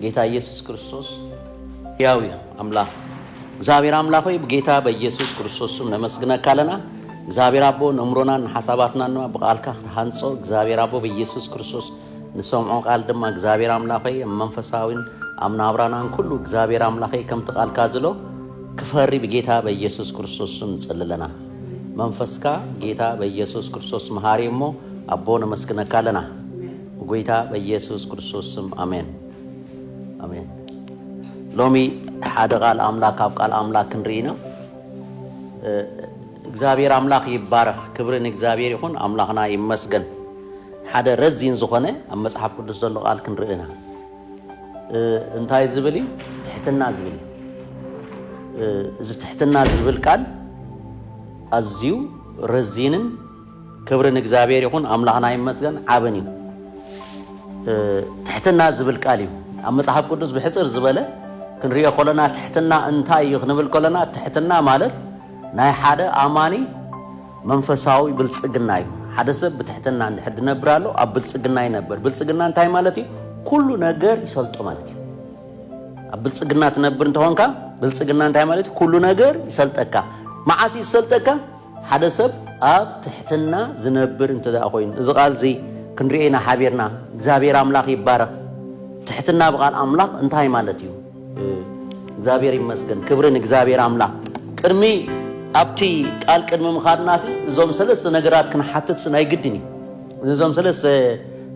ጌታ ኢየሱስ ክርስቶስ ሕያው እዩ ኣምላኽ እግዚኣብሔር ኣምላኽ ሆይ ብጌታ በኢየሱስ ክርስቶስ ስም ነመስግነካ ኣለና እግዚኣብሔር ኣቦ ነእምሮናን ንሓሳባትናን ድማ ብቃልካ ክትሃንጾ እግዚኣብሔር ኣቦ በኢየሱስ ክርስቶስ ንሰምዖ ቃል ድማ እግዚኣብሔር ኣምላኽ ሆይ ኣብ መንፈሳዊን ኣብ ናብራናን ኩሉ እግዚኣብሔር ኣምላኽ ሆይ ከምቲ ቃልካ ዝሎ ክፈሪ ብጌታ በኢየሱስ ክርስቶስ ስም ንጽሊ ኣለና መንፈስካ ጌታ በኢየሱስ ክርስቶስ መሃሪ እሞ ኣቦ ነመስግነካ ኣለና ብጎይታ በየሱስ ክርስቶስ ስም ኣሜን ኣሜን። ሎሚ ሓደ ቃል ኣምላክ ካብ ቃል ኣምላክ ክንርኢ ኢና። እግዚኣብሔር ኣምላክ ይባረክ። ክብሪ ንእግዚኣብሔር ይኹን። ኣምላክና ይመስገን። ሓደ ረዚን ዝኾነ ኣብ መጽሓፍ ቅዱስ ዘሎ ቃል ክንርኢ ኢና። እንታይ ዝብል እዩ? ትሕትና ዝብል እዩ። እዚ ትሕትና ዝብል ቃል ኣዝዩ ረዚንን ክብሪ ንእግዚኣብሔር ይኹን ኣምላኽና ይመስገን ዓብን እዩ ትሕትና ዝብል ቃል እዩ ኣብ መጽሓፍ ቅዱስ ብሕጽር ዝበለ ክንሪኦ ከለና ትሕትና እንታይ እዩ ክንብል ከለና ትሕትና ማለት ናይ ሓደ ኣማኒ መንፈሳዊ ብልጽግና እዩ ሓደ ሰብ ብትሕትና እንድሕር ዝነብር ኣሎ ኣብ ብልጽግና ይነበር ብልጽግና እንታይ ማለት እዩ ኩሉ ነገር ይፈልጦ ማለት እዩ ኣብ ብልጽግና ትነብር እንተኾንካ ብልጽግና እንታይ ማለት እዩ ኩሉ ነገር ይሰልጠካ መዓስ ይሰልጠካ ሓደ ሰብ ኣብ ትሕትና ዝነብር እንተደኣ ኮይኑ፣ እዚ ቃል እዚ ክንሪኦ ኢና ሓቢርና። እግዚኣብሔር ኣምላኽ ይባረኽ። ትሕትና ብቃል ኣምላኽ እንታይ ማለት እዩ? እግዚኣብሔር ይመስገን። ክብሪ ንእግዚኣብሔር ኣምላኽ። ቅድሚ ኣብቲ ቃል ቅድሚ ምኻድና ሲ እዞም ሰለስተ ነገራት ክንሓትት ሲ ናይ ግድን እዩ። ነዞም ሰለስተ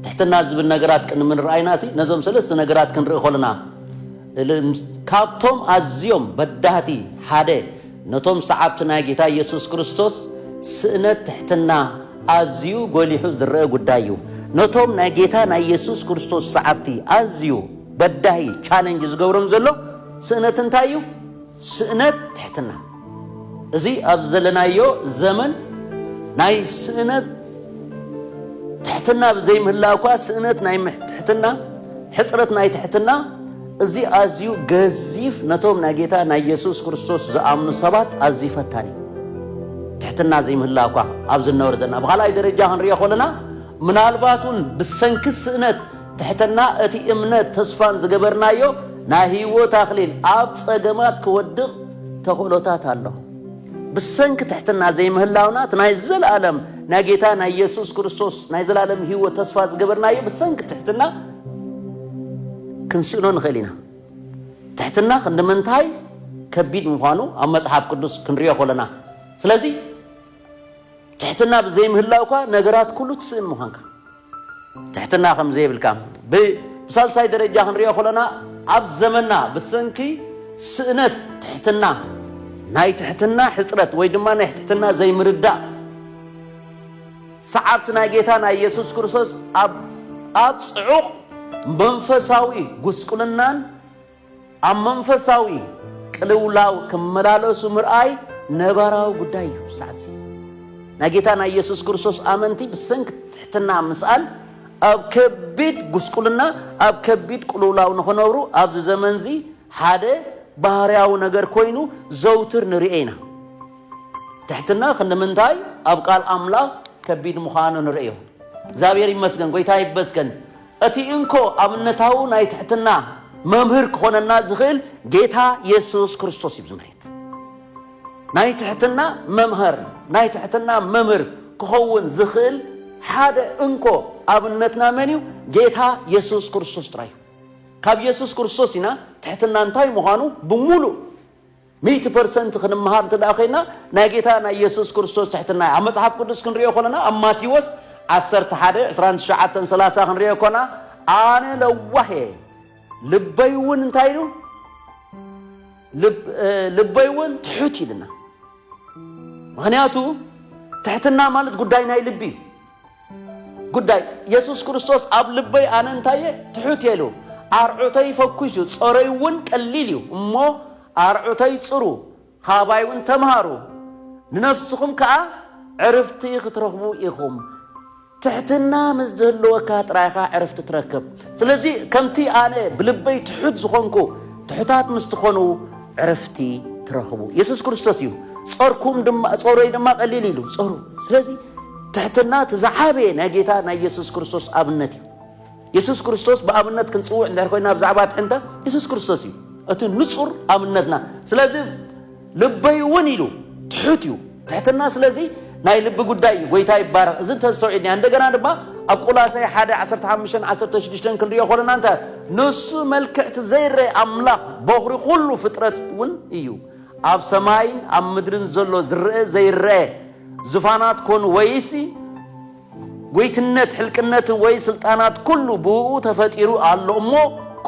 ትሕትና ዝብል ነገራት ቅድሚ ንርኣይና ሲ ነዞም ሰለስተ ነገራት ክንርኢ ከለና ካብቶም ኣዝዮም በዳህቲ ሓደ ነቶም ሰዓብቲ ናይ ጌታ ኢየሱስ ክርስቶስ ስእነት ትሕትና ኣዝዩ ጎሊሑ ዝረኣ ጉዳይ እዩ። ነቶም ናይ ጌታ ናይ ኢየሱስ ክርስቶስ ሰዓብቲ ኣዝዩ በዳሂ፣ challenge፣ ዝገብሮም ዘሎ ስእነት እንታይ እዩ? ስእነት ትሕትና። እዚ ኣብዚ ዘለናዮ ዘመን ናይ ስእነት ትሕትና ብዘይምህላው እኳ ስእነት ናይ ትሕትና ሕጽረት ናይ ትሕትና እዚ ኣዝዩ ገዚፍ ነቶም ናይ ጌታ ናይ የሱስ ክርስቶስ ዝኣምኑ ሰባት ኣዝዩ ፈታኒ እዩ። ትሕትና ዘይምህላው እኳ ኣብዚ ንነብር ዘለና ብኻልኣይ ደረጃ ክንሪኦ ከለና ምናልባት እውን ብሰንኪ ስእነት ትሕትና እቲ እምነት ተስፋን ዝገበርናዮ ናይ ህይወት ኣኽሊል ኣብ ጸገማት ክወድቕ ተኽእሎታት ኣሎ። ብሰንኪ ትሕትና ዘይምህላውና እቲ ናይ ዘለኣለም ናይ ጌታ ናይ የሱስ ክርስቶስ ናይ ዘላለም ህይወት ተስፋ ዝገበርናዮ ብሰንኪ ትሕትና ክንስእኖ ንኽእል ኢና። ትሕትና ክንዲ ምንታይ ከቢድ ምዃኑ ኣብ መጽሓፍ ቅዱስ ክንሪኦ ከለና፣ ስለዚ ትሕትና ብዘይምህላው እኳ ነገራት ኩሉ ትስእን ምዃንካ ትሕትና ከም ዘይብልካ ብሳልሳይ ደረጃ ክንሪኦ ከለና ኣብ ዘመና ብሰንኪ ስእነት ትሕትና ናይ ትሕትና ሕፅረት ወይ ድማ ናይ ትሕትና ዘይምርዳእ ሰዓብቲ ናይ ጌታና ኢየሱስ ክርስቶስ ኣብ ኣብ ጽዑቕ መንፈሳዊ ጉስቁልናን ኣብ መንፈሳዊ ቅልውላው ክመላለሱ ምርኣይ ነባራዊ ጉዳይ እዩ። ሳዕሲ ናይ ጌታና ኢየሱስ ክርስቶስ ኣመንቲ ብሰንኪ ትሕትና ምስኣን ኣብ ከቢድ ጉስቁልና ኣብ ከቢድ ቅልውላው ንኽነብሩ ኣብዚ ዘመንዚ ሓደ ባህርያዊ ነገር ኮይኑ ዘውትር ንርኤ ኢና። ትሕትና ክንድምንታይ ኣብ ቃል ኣምላኽ ከቢድ ምዃኑ ንርእዮ። እግዚኣብሔር ይመስገን ጎይታ ይበስገን እቲ እንኮ ኣብነታዊ ናይ ትሕትና መምህር ክኾነና ዝኽእል ጌታ የሱስ ክርስቶስ እዩ ዝመሬት ናይ ትሕትና መምህር ናይ ትሕትና መምህር ክኸውን ዝኽእል ሓደ እንኮ ኣብነትና መን እዩ ጌታ የሱስ ክርስቶስ ጥራይ እዩ ካብ የሱስ ክርስቶስ ኢና ትሕትና እንታይ ምዃኑ ብምሉእ ሚእቲ ፐርሰንት ክንመሃር እንተ ደኣ ዄንና ናይ ጌታ ናይ የሱስ ክርስቶስ ትሕትና እዩ። ኣብ መጽሓፍ ቅዱስ ክንርእዮ ከሎና ኣብ ማቴዎስ ዓሰርተ ሓደ ዕስራን ትሽዓተን ሰላሳ ክንርእዮ ኮና ኣነ ለዋህ እየ ልበይ እውን እንታይ ኢሉ ልበይ እውን ትሑት ኢልና ምክንያቱ ትሕትና ማለት ጉዳይ ናይ ልቢ እዩ። ጉዳይ የሱስ ክርስቶስ ኣብ ልበይ ኣነ እንታይ እየ ትሑት እየ ኢሉ ኣርዑተይ ፈኲሱ ጾረይ እውን ቀሊል እዩ እሞ ኣርዑተይ ጽሩ ካባይ እውን ተምሃሩ ንነፍስኹም ከዓ ዕርፍቲ ክትረኽቡ ኢኹም ትሕትና ምስ ዝህልወካ ጥራይ ኢኻ ዕርፍቲ ትረክብ ስለዚ ከምቲ ኣነ ብልበይ ትሑት ዝኾንኩ ትሑታት ምስ ትኾኑ ዕርፍቲ ትረኽቡ የሱስ ክርስቶስ እዩ ጾርኩም ድማ ጾረይ ድማ ቀሊል ኢሉ ጾሩ ስለዚ ትሕትና እቲ ዝዓበየ ናይ ጌታ ናይ የሱስ ክርስቶስ ኣብነት እዩ። የሱስ ክርስቶስ ብኣብነት ክንጽውዕ እንድሕር ኮይና ብዛዕባ ትሕንታ የሱስ ክርስቶስ እዩ እቲ ንጹር ኣብነትና። ስለዚ ልበይ እውን ኢሉ ትሑት እዩ። ትሕትና ስለዚ ናይ ልቢ ጉዳይ እዩ። ጎይታ ይባረኽ። እዚ እንተዝተውዒልና እንደገና ድማ ኣብ ቆላሳይ ሓደ ዓሰርተ ሓሙሽተን ዓሰርተ ሽዱሽተን ክንሪኦ ከለና እንታይ ንሱ መልክዕቲ ዘይረይ ኣምላኽ በኹሪ ኩሉ ፍጥረት እውን እዩ ኣብ ሰማይን ኣብ ምድርን ዘሎ ዝርእ ዘይረኤ ዙፋናት ኮን ወይሲ ጐይትነት ሕልቅነትን ወይ ስልጣናት ኩሉ ብእኡ ተፈጢሩ ኣሎ እሞ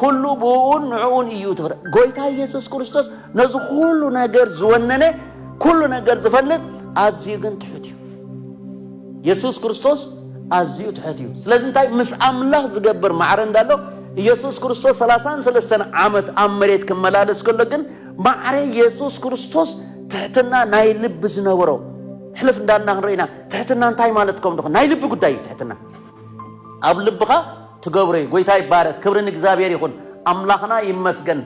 ኩሉ ብእኡን ንዕኡን እዩ ተፈረ ጐይታ ኢየሱስ ክርስቶስ ነዚ ኩሉ ነገር ዝወነነ ኩሉ ነገር ዝፈልጥ ኣዝዩ ግን ትሑት እዩ የሱስ ክርስቶስ ኣዝዩ ትሑት እዩ ስለዚ እንታይ ምስ ኣምላኽ ዝገብር ማዕረ እንዳሎ ኢየሱስ ክርስቶስ ሰላሳን ሰለስተን ዓመት ኣብ መሬት ክመላለስ ከሎ ግን ማዕረ የሱስ ክርስቶስ ትሕትና ናይ ልቢ ዝነበሮ ሕልፍ እንዳልና ክንሪኦ ኢና ትሕትና እንታይ ማለት ከም ድኹ ናይ ልቢ ጉዳይ እዩ ትሕትና ኣብ ልብኻ ትገብሮ እዩ ጎይታ ይባረክ ክብሪ ንእግዚኣብሔር ይኹን ኣምላኽና ይመስገን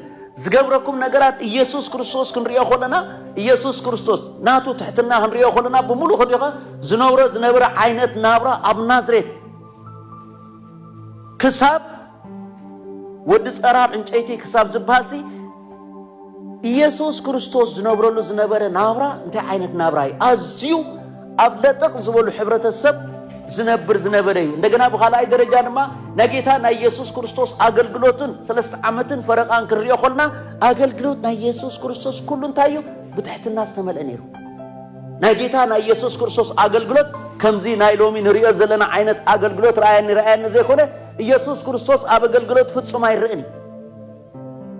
ዝገብረኩም ነገራት ኢየሱስ ክርስቶስ ክንሪኦ ከለና ኢየሱስ ክርስቶስ ናቱ ትሕትና ክንሪኦ ከለና ብምሉእ ከዲኸ ዝነብሮ ዝነበረ ዓይነት ናብራ ኣብ ናዝሬት ክሳብ ወዲ ጸራር ዕንጨይቲ ክሳብ ዝበሃልሲ ኢየሱስ ክርስቶስ ዝነብረሉ ዝነበረ ናብራ እንታይ ዓይነት ናብራ እዩ? ኣዝዩ ኣብ ለጠቕ ዝበሉ ሕብረተሰብ ዝነብር ዝነበረ እዩ። እንደገና ብካልኣይ ደረጃ ድማ ናይ ጌታ ናይ ኢየሱስ ክርስቶስ ኣገልግሎትን ሰለስተ ዓመትን ፈረቃን ክንሪኦ ኮልና ኣገልግሎት ናይ ኢየሱስ ክርስቶስ ኩሉ እንታይ እዩ? ብትሕትና ዝተመልአ ነይሩ። ናይ ጌታ ናይ ኢየሱስ ክርስቶስ ኣገልግሎት ከምዚ ናይ ሎሚ ንሪኦ ዘለና ዓይነት ኣገልግሎት ረኣየኒ ረኣየኒ ዘይኮነ ኢየሱስ ክርስቶስ ኣብ ኣገልግሎት ፍጹም ኣይረእን እዩ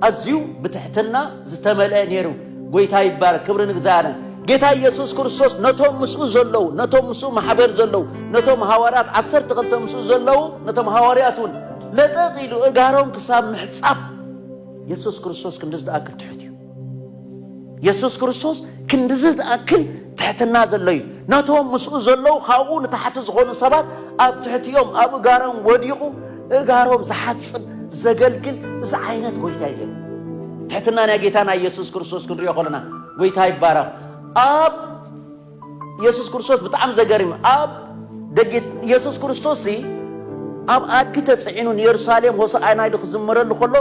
ኣዝዩ ብትሕትና ዝተመልአ ነይሩ ጎይታ ይባረክ ክብሪ ንእግዚኣብሔር ጌታ ኢየሱስ ክርስቶስ ነቶም ምስኡ ዘለዉ ነቶም ምስኡ ማሕበር ዘለዉ ነቶም ሃዋርያት ዓሰርተ ክልተ ምስኡ ዘለዉ ነቶም ሃዋርያት እውን ለጠቕ ኢሉ እጋሮም ክሳብ ምሕጻብ ኢየሱስ ክርስቶስ ክንዲ ዝኣክል ትሑት እዩ የሱስ ክርስቶስ ክንድዚ ዝኣክል ትሕትና ዘሎ እዩ። ነቶም ምስኡ ዘለዉ ካብኡ ንታሕቲ ዝኾኑ ሰባት ኣብ ትሕቲኦም ኣብ እጋሮም ወዲቑ እጋሮም ዝሓጽብ ዘገልግል እዚ ዓይነት ጎይታ እዩ ነይሩ። ትሕትና ናይ ጌታና ኢየሱስ ክርስቶስ ክንሪኦ ከለና ጎይታ ይባረኽ ኣብ የሱስ ክርስቶስ ብጣዕሚ ዘገርም ኣብ ደጊ የሱስ ክርስቶስ ሲ ኣብ ኣድጊ ተጽዒኑ ንየሩሳሌም ሆሳዕና ኢሉ ክዝምረሉ ከሎ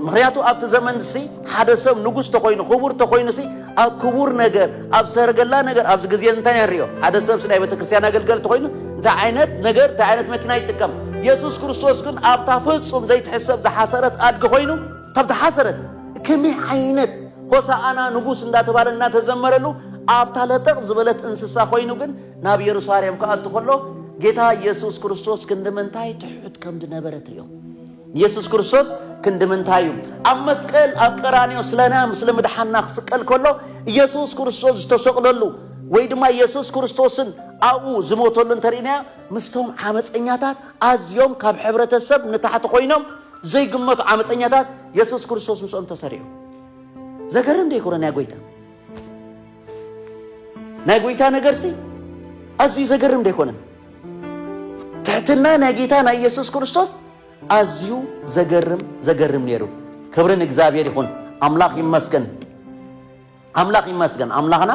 ምክንያቱ ኣብቲ ዘመን ሲ ሓደ ሰብ ንጉስ ተኮይኑ ክቡር ተኮይኑ ሲ ኣብ ክቡር ነገር ኣብ ሰረገላ ነገር ኣብዚ ግዜ እንታይ ንሪኦ ሓደ ሰብ ናይ ቤተክርስትያን ኣገልገልቲ ኮይኑ እንታይ ዓይነት ነገር እንታይ ዓይነት መኪና ይጥቀም የሱስ ክርስቶስ ግን ኣብታ ፍጹም ዘይትሕሰብ ዝሓሰረት ኣድጊ ኮይኑ ካብቲ ሓሰረት ከመይ ዓይነት ሆሳኣና ንጉስ እንዳተባለ እናተዘመረሉ ኣብታ ለጠቕ ዝበለት እንስሳ ኮይኑ ግን ናብ የሩሳሌም ክኣቱ ከሎ ጌታ ኢየሱስ ክርስቶስ ክንድምንታይ ትሑት ከም ዝነበረ ትሪኦ። ኢየሱስ ክርስቶስ ክንድምንታይ እዩ ኣብ መስቀል ኣብ ቀራንዮ ስለና ምስለ ምድሓና ክስቀል ከሎ ኢየሱስ ክርስቶስ ዝተሰቕለሉ ወይ ድማ ኢየሱስ ክርስቶስን ኣብኡ ዝሞተሉ እንተርእናያ ምስቶም ዓመፀኛታት ኣዝዮም ካብ ሕብረተሰብ ንታሕቲ ኮይኖም ዘይግመቱ ዓመፀኛታት የሱስ ክርስቶስ ምስኦም ተሰሪዑ ዘገርም ዶ ይኮነ ናይ ጎይታ ናይ ጎይታ ነገርሲ ኣዝዩ ዘገርም ዶ ይኮነ ትሕትና ናይ ጌታ ናይ ኢየሱስ ክርስቶስ ኣዝዩ ዘገርም ዘገርም ነይሩ ክብሪ ንእግዚኣብሔር ይኹን ኣምላኽ ይመስገን ኣምላኽ ይመስገን ኣምላኽና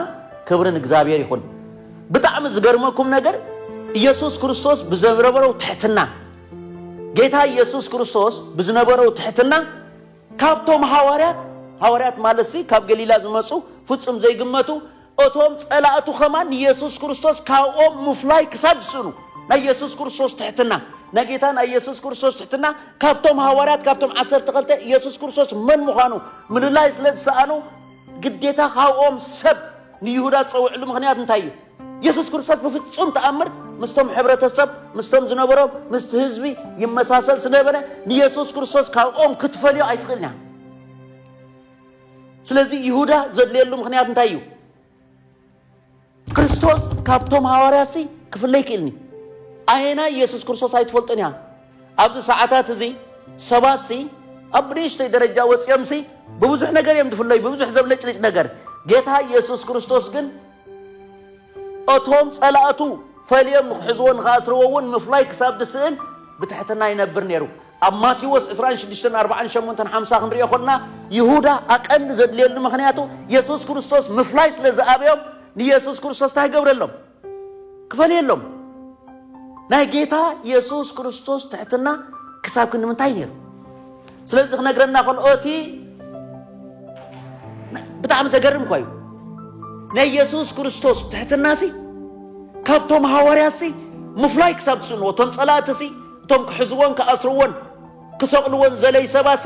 ክብሪ ንእግዚኣብሔር ይኹን ብጣዕሚ ዝገርመኩም ነገር ኢየሱስ ክርስቶስ ብዘረበረው ትሕትና ጌታ ኢየሱስ ክርስቶስ ብዝነበረው ትሕትና ካብቶም ሃዋርያት፣ ሃዋርያት ማለትሲ ካብ ገሊላ ዝመጹ ፍጹም ዘይግመቱ፣ እቶም ጸላእቱ ከማን ንየሱስ ክርስቶስ ካብኦም ምፍላይ ክሳብ ዝስእኑ፣ ናይ የሱስ ክርስቶስ ትሕትና፣ ናይ ጌታና የሱስ ክርስቶስ ትሕትና ካብቶም ሃዋርያት ካብቶም ዓሰርተ ክልተ የሱስ ክርስቶስ መን ምዃኑ ምልላይ ስለ ዝሰኣኑ፣ ግዴታ ካብኦም ሰብ ንይሁዳ ዝጸውዕሉ ምኽንያት እንታይ እዩ? የሱስ ክርስቶስ ብፍጹም ተኣምር ምስቶም ሕብረተሰብ ምስቶም ዝነበሮም ምስቲ ህዝቢ ይመሳሰል ስለነበረ ንየሱስ ክርስቶስ ካብኦም ክትፈልዮ ኣይትኽእልን እያ ስለዚ ይሁዳ ዘድልየሉ ምክንያት እንታይ እዩ ክርስቶስ ካብቶም ሃዋርያሲ ክፍለ ይክእልኒ ኣየና ኢየሱስ ክርስቶስ ኣይትፈልጥን እያ ኣብዚ ሰዓታት እዚ ሰባት ሲ ኣብ ብንእሽተይ ደረጃ ወፂኦም ሲ ብብዙሕ ነገር እዮም ዝፍለዩ ብብዙሕ ዘብለጭልጭ ነገር ጌታ ኢየሱስ ክርስቶስ ግን እቶም ጸላእቱ ፈልዮም ንኽሕዝዎ ንኽኣስርዎ እውን ምፍላይ ክሳብ ዝስእን ብትሕትና ይነብር ነይሩ። ኣብ ማቴዎስ ዕስራን ሽዱሽተን ኣርባዓን ሸሞንተን ሓምሳ ክንሪኦ ከሎና ይሁዳ ኣቀንዲ ዘድልየሉ ምኽንያቱ የሱስ ክርስቶስ ምፍላይ ስለ ዝኣበዮም ንየሱስ ክርስቶስ እንታይ ይገብረሎም ክፈልየሎም ናይ ጌታ የሱስ ክርስቶስ ትሕትና ክሳብ ክንዲ ምንታይ ነይሩ ስለዚ ክነግረና ከልኦ እቲ ብጣዕሚ ዘገርም እኳ እዩ ናይ የሱስ ክርስቶስ ትሕትናሲ ካብቶም ሃዋርያሲ ምፍላይ ክሳብ ትስእንዎ እቶም ጸላእትሲ እቶም ክሕዝዎን ክኣስርዎን ክሰቕልዎን ዘለይ ሰባሲ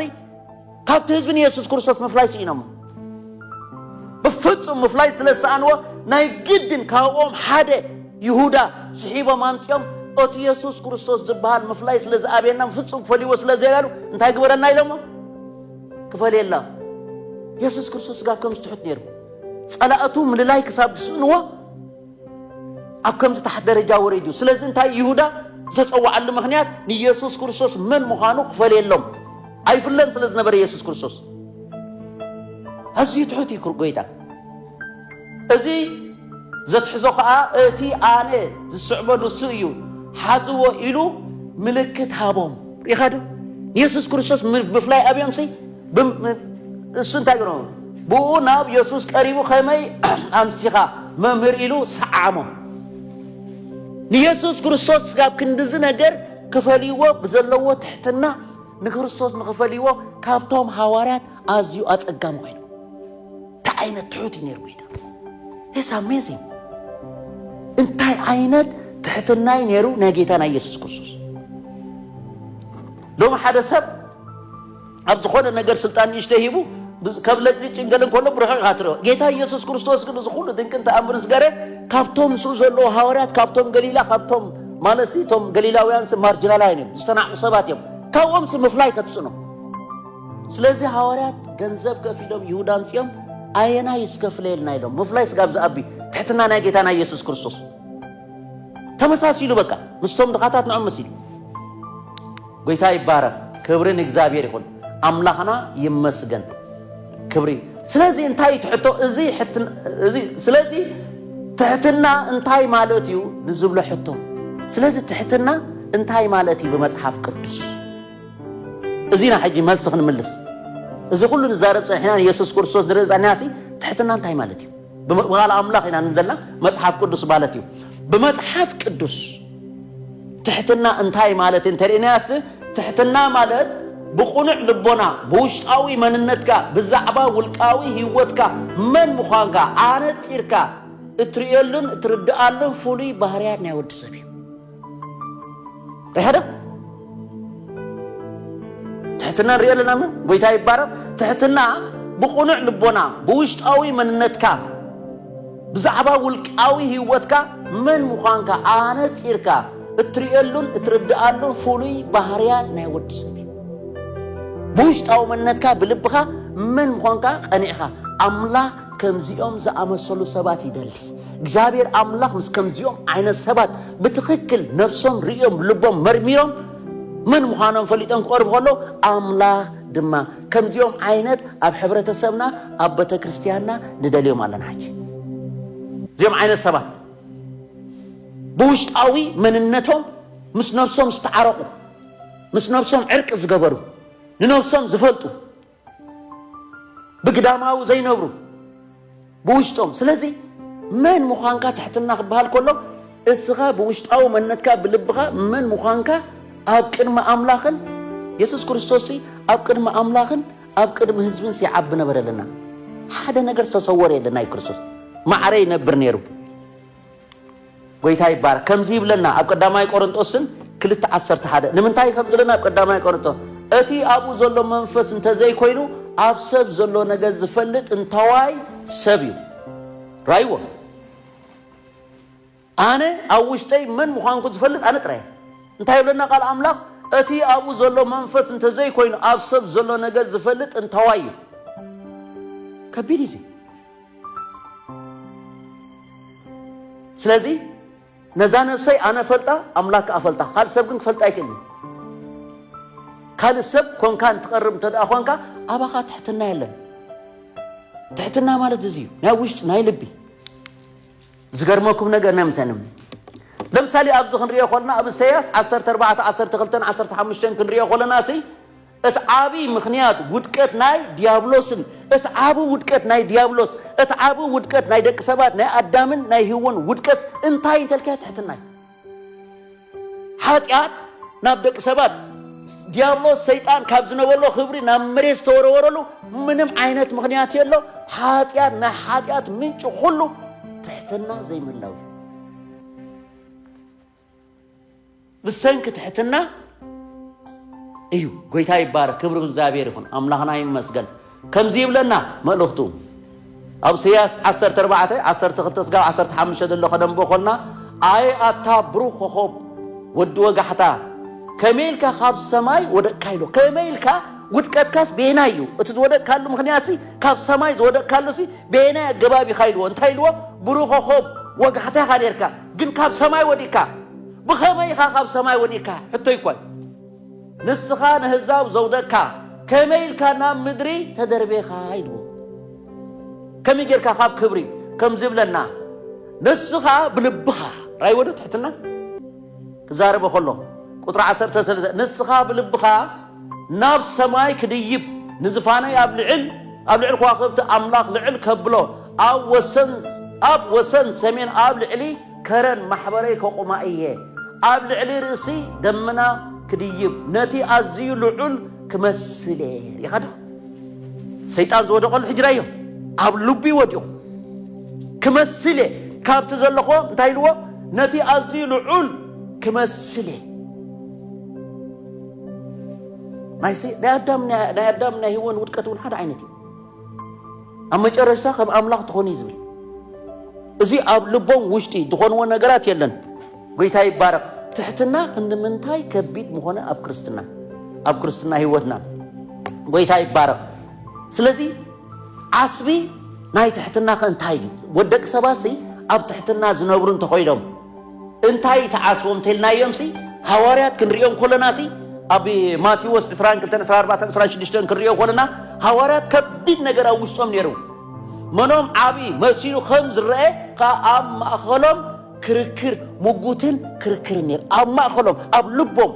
ካብቲ ህዝቢ ንየሱስ ክርስቶስ ምፍላይ ስኢኖሞ ብፍጹም ምፍላይ ስለ ዝሰኣንዎ ናይ ግድን ካብኦም ሓደ ይሁዳ ስሒቦም ኣምጺኦም እቲ የሱስ ክርስቶስ ዝበሃል ምፍላይ ስለ ዝኣብየና ብፍጹም ክፈልይዎ ስለ ዘይበሉ እንታይ ግበረና ኢሎሞ ክፈልየላ የሱስ ክርስቶስ ጋብ ከም ዝትሑት ነይሩ ጸላእቱ ምልላይ ክሳብ ዝስእንዎ ኣብ ከምዚ ታሕት ደረጃ ወሪዱ። ስለዚ እንታይ ይሁዳ ዝተጸዋዓሉ ምክንያት ንየሱስ ክርስቶስ መን ምዃኑ ክፈልየሎም ኣይፍለን ስለ ዝነበረ የሱስ ክርስቶስ ኣዝዩ ትሑት እዩ ጎይታ እዚ ዘትሕዞ ከዓ እቲ ኣነ ዝስዕቦ ንሱ እዩ ሓዝዎ ኢሉ ምልክት ሃቦም ሪኢኻ ዶ ንየሱስ ክርስቶስ ምፍላይ ኣብዮምሲ እሱ እንታይ ገሮ ብኡ ናብ የሱስ ቀሪቡ ከመይ ኣምሲኻ መምህር ኢሉ ሰዓሞ ንየሱስ ክርስቶስ ስጋብ ክንዲዚ ነገር ክፈልይዎ ብዘለዎ ትሕትና ንክርስቶስ ንክፈልይዎ ካብቶም ሃዋርያት ኣዝዩ ኣጸጋሚ ኮይኑ እንታይ ዓይነት ትሑት እዩ ነይሩ ጎይታ ስ ኣሜዚንግ እንታይ ዓይነት ትሕትና እዩ ነይሩ ናይ ጌታ ናይ የሱስ ክርስቶስ ሎሚ ሓደ ሰብ ኣብ ዝኾነ ነገር ስልጣን ንእሽተይ ሂቡ ካብ ለጭጭን ገለን ከሎ ብርሑቕ ኢኻ ትሪኦ ጌታ ኢየሱስ ክርስቶስ ግን እዚ ኩሉ ድንቅን ተኣምርን ዝገረ ካብቶም ምስኡ ዘለዎ ሃዋርያት ካብቶም ገሊላ ካብቶም ማለት እቶም ገሊላውያንስ ማርጅናላውያን እዮም ዝተናዕቁ ሰባት እዮም ካብኦምስ ምፍላይ ከትስኖ ስለዚ ሃዋርያት ገንዘብ ከፊሎም ይሁዳ ኣምፅኦም ኣየና ይስከፍለየልና ኢሎም ምፍላይ ስጋብ ዝኣቢ ትሕትና ናይ ጌታ ናይ ኢየሱስ ክርስቶስ ተመሳሲሉ በቃ ምስቶም ድኻታት ንዖም መሲሉ ጎይታ ይባረክ ክብሪ ንእግዚኣብሔር ይኩን ኣምላክና ይመስገን ክብሪ ስለዚ እንታይ ትሕቶ እዚ እዚ ስለዚ ትሕትና እንታይ ማለት እዩ ንዝብሎ ሕቶ ስለዚ ትሕትና እንታይ ማለት እዩ ብመጽሓፍ ቅዱስ እዚና ሕጂ መልሲ ክንምልስ እዚ ኩሉ ንዛረብ ጸኒሕና ንየሱስ ክርስቶስ ንርኢ ዛኒናሲ ትሕትና እንታይ ማለት እዩ ብቃል ኣምላኽ ኢና ንዘላ መጽሓፍ ቅዱስ ማለት እዩ። ብመጽሓፍ ቅዱስ ትሕትና እንታይ ማለት እንተርእናያስ ትሕትና ማለት ብቁኑዕ ልቦና ብውሽጣዊ መንነትካ ብዛዕባ ውልቃዊ ህይወትካ መን ምዃንካ ኣነጺርካ እትርእየሉን እትርድኣሉን ፍሉይ ባህርያት ናይ ወዲ ሰብ እዩ። ኣይሓደም ትሕትና ንሪኦ ኣለና ሞ ጎይታ ይባረኽ ትሕትና ብቕኑዕ ልቦና ብውሽጣዊ መንነትካ ብዛዕባ ውልቃዊ ህይወትካ መን ምዃንካ ኣነፂርካ እትርእየሉን እትርድኣሉን ፍሉይ ባህርያት ናይ ወዲ ሰብ እዩ ብውሽጣዊ መንነትካ ብልብኻ መን ምዃንካ ቐኒዕኻ ኣምላኽ ከምዚኦም ዝኣመሰሉ ሰባት ይደሊ እግዚኣብሔር ኣምላኽ ምስ ከምዚኦም ዓይነት ሰባት ብትኽክል ነብሶም ርእዮም ልቦም መርሚሮም መን ምዃኖም ፈሊጦም ክቐርቡ ከሎ ኣምላኽ ድማ ከምዚኦም ዓይነት ኣብ ሕብረተሰብና ኣብ ቤተ ክርስቲያንና ንደልዮም ኣለና ሕጂ እዚኦም ዓይነት ሰባት ብውሽጣዊ መንነቶም ምስ ነብሶም ዝተዓረቑ ምስ ነብሶም ዕርቂ ዝገበሩ ንነብሶም ዝፈልጡ ብግዳማዊ ዘይነብሩ ብውሽጦም ስለዚ መን ምዃንካ ትሕትና ክበሃል ከሎ እስኻ ብውሽጣዊ መንነትካ ብልብኻ መን ምዃንካ ኣብ ቅድሚ ኣምላኽን የሱስ ክርስቶስ ኣብ ቅድሚ ኣምላኽን ኣብ ቅድሚ ህዝብን ሲዓቢ ነበረልና ሓደ ነገር ዝተሰወረ የለን ናይ ክርስቶስ ማዕረ ይነብር ነይሩ ጎይታ ይባረክ ከምዚ ይብለና ኣብ ቀዳማይ ቆሮንጦስን ክልተ ዓሰርተ ሓደ ንምንታይ ከም ዝለና ኣብ ቀዳማይ ቆሮንጦስ እቲ ኣብኡ ዘሎ መንፈስ እንተዘይኮይኑ ኣብ ሰብ ዘሎ ነገር ዝፈልጥ እንተዋይ ሰብ እዩ ራይዎ ኣነ ኣብ ውሽጠይ መን ምዃንኩ ዝፈልጥ ኣነ ጥራይ እንታይ ይብለና ቃል ኣምላኽ እቲ ኣብኡ ዘሎ መንፈስ እንተዘይኮይኑ ኣብ ሰብ ዘሎ ነገር ዝፈልጥ እንተዋይ እዩ ከቢድ እዩ ስለዚ ነዛ ነብሰይ ኣነ ፈልጣ ኣምላክ ከኣ ፈልጣ ካልእ ሰብ ግን ክፈልጣ ኣይክእልን ካልእ ሰብ ኮንካ እንትቐርብ እንተ ደኣ ኳንካ ኣባኻ ትሕትና የለን ትሕትና ማለት እዚ እዩ ናይ ውሽጢ ናይ ልቢ ዝገርመኩም ነገር ነምሰንም ለምሳሌ ኣብዚ ክንሪኦ ኮለና ኣብ እሰያስ 14 12 15 ክንሪኦ ኮለና ሲ እቲ ዓቢ ምኽንያት ውድቀት ናይ ድያብሎስን እቲ ዓቢ ውድቀት ናይ ድያብሎስ እቲ ዓቢ ውድቀት ናይ ደቂ ሰባት ናይ ኣዳምን ናይ ህወን ውድቀት እንታይ እንተልካዮ ትሕትና እዩ ሓጢኣት ናብ ደቂ ሰባት ዲያብሎስ ሰይጣን ካብ ዝነበሎ ክብሪ ናብ መሬት ዝተወረወረሉ ምንም ዓይነት ምክንያት የሎ ሓጢኣት ናይ ሓጢኣት ምንጭ ኩሉ ትሕትና ዘይምላው እዩ ብሰንኪ ትሕትና እዩ ጎይታ ይባረክ ክብሪ እግዚኣብሔር ይኹን ኣምላኽና ይመስገን ከምዚ ይብለና መልእኽቱ ኣብ ስያስ 14 12 ስጋብ 15 ዘሎ ከደንቦ ኮና ኣየ ኣታ ብሩኽ ኮኾብ ወዲ ወጋሕታ ከመይ ኢልካ ካብ ሰማይ ወደቅካ ኢሎ ከመይ ኢልካ ውድቀትካስ ቤና እዩ እቲ ዝወደቅካሉ ምክንያት ሲ ካብ ሰማይ ዝወደቅካሉ ሲ ቤና ኣገባብ ኢኻ ኢልዎ እንታይ ኢልዎ ብሩኽ ኮኾብ ወጋሕታ ኢኻ ነርካ ግን ካብ ሰማይ ወዲቅካ ብኸመይ ኢኻ ካብ ሰማይ ወዲቅካ ሕቶይ ኮን ንስኻ ነህዛብ ዘውደቅካ ከመይ ኢልካ ናብ ምድሪ ተደርቤኻ ኢልዎ ከመይ ጌርካ ካብ ክብሪ ከም ዝብለና ንስኻ ብልብኻ ራይ ወዶ ትሕትና ክዛረበ ከሎ ቁጥሪ ዓሰርተ ሰለስተ ንስኻ ብልብኻ ናብ ሰማይ ክድይብ ንዝፋነይ ኣብ ልዕል ኣብ ልዕል ከዋኽብቲ ኣምላኽ ልዕል ከብሎ ኣብ ወሰን ኣብ ወሰን ሰሜን ኣብ ልዕሊ ከረን ማሕበረይ ከቑማ እየ ኣብ ልዕሊ ርእሲ ደመና ክድይብ ነቲ ኣዝዩ ልዑል ክመስል እየ ርኢኻዶ ሰይጣን ዝወደቐሉ ሕጂ ራዮ ኣብ ልቢ ወዲቑ ክመስል እየ ካብቲ ዘለኹዎ እንታይ ኢልዎ ነቲ ኣዝዩ ልዑል ክመስል እየ ናይ ኣዳም ናይ ኣዳም ናይ ህወን ውድቀት እውን ሓደ ዓይነት እዩ ኣብ መጨረሽታ ከም ኣምላኽ ትኾኑ እዩ ዝብል እዚ ኣብ ልቦም ውሽጢ ዝኾንዎ ነገራት የለን ጎይታ ይባረቕ ትሕትና ክንምንታይ ከቢድ ምኾነ ኣብ ክርስትና ኣብ ክርስትና ህይወትና ጎይታ ይባረቕ ስለዚ ዓስቢ ናይ ትሕትና ከ እንታይ እዩ ወደቂ ሰባት ሲ ኣብ ትሕትና ዝነብሩ እንተኾይኖም እንታይ ትዓስቦም እንተልናዮምሲ ሃዋርያት ክንርእዮም ኮለናሲ ኣብ ማቴዎስ ዕስራን ክልተን ዕስራ ኣርባዕተን ዕስራን ሽዱሽተን ክንርእዮ ኮለና ሃዋርያት ከቢድ ነገር ኣብ ውሽጦም ነይሩ መኖም ዓብዪ መሲሉ ከም ዝረአ ከዓ ኣብ ማእኸሎም ክርክር ምጉትን ክርክርን ነይሩ ኣብ ማእኸሎም ኣብ ልቦም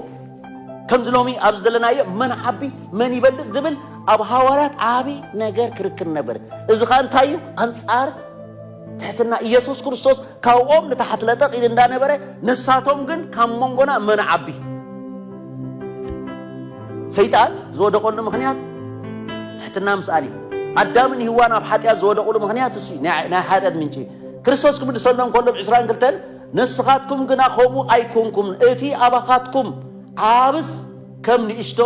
ከምዚ ሎሚ ኣብዚ ዘለናዮ መን ዓቢ መን ይበልፅ ዝብል ኣብ ሃዋርያት ዓብዪ ነገር ክርክር ነበር እዚ ከዓ እንታይ እዩ ኣንፃር ትሕትና ኢየሱስ ክርስቶስ ካብኦም ንታሕት ለጠቕ ኢል እንዳነበረ ንሳቶም ግን ካብ መንጎና መን ዓቢ ሰይጣን ዝወደቐሉ ምኽንያት ትሕትና ምስኣን እዩ ኣዳምን ህዋን ኣብ ሓጢኣት ዝወደቕሉ ምኽንያት እሲ ናይ ሓጢኣት ምንጪ ክርስቶስ ክምልሰሎም ከሎ ብ 22 ንስኻትኩም ግና ከምኡ ኣይኮንኩም እቲ ኣባኻትኩም ዓብስ ከም ንእሽቶ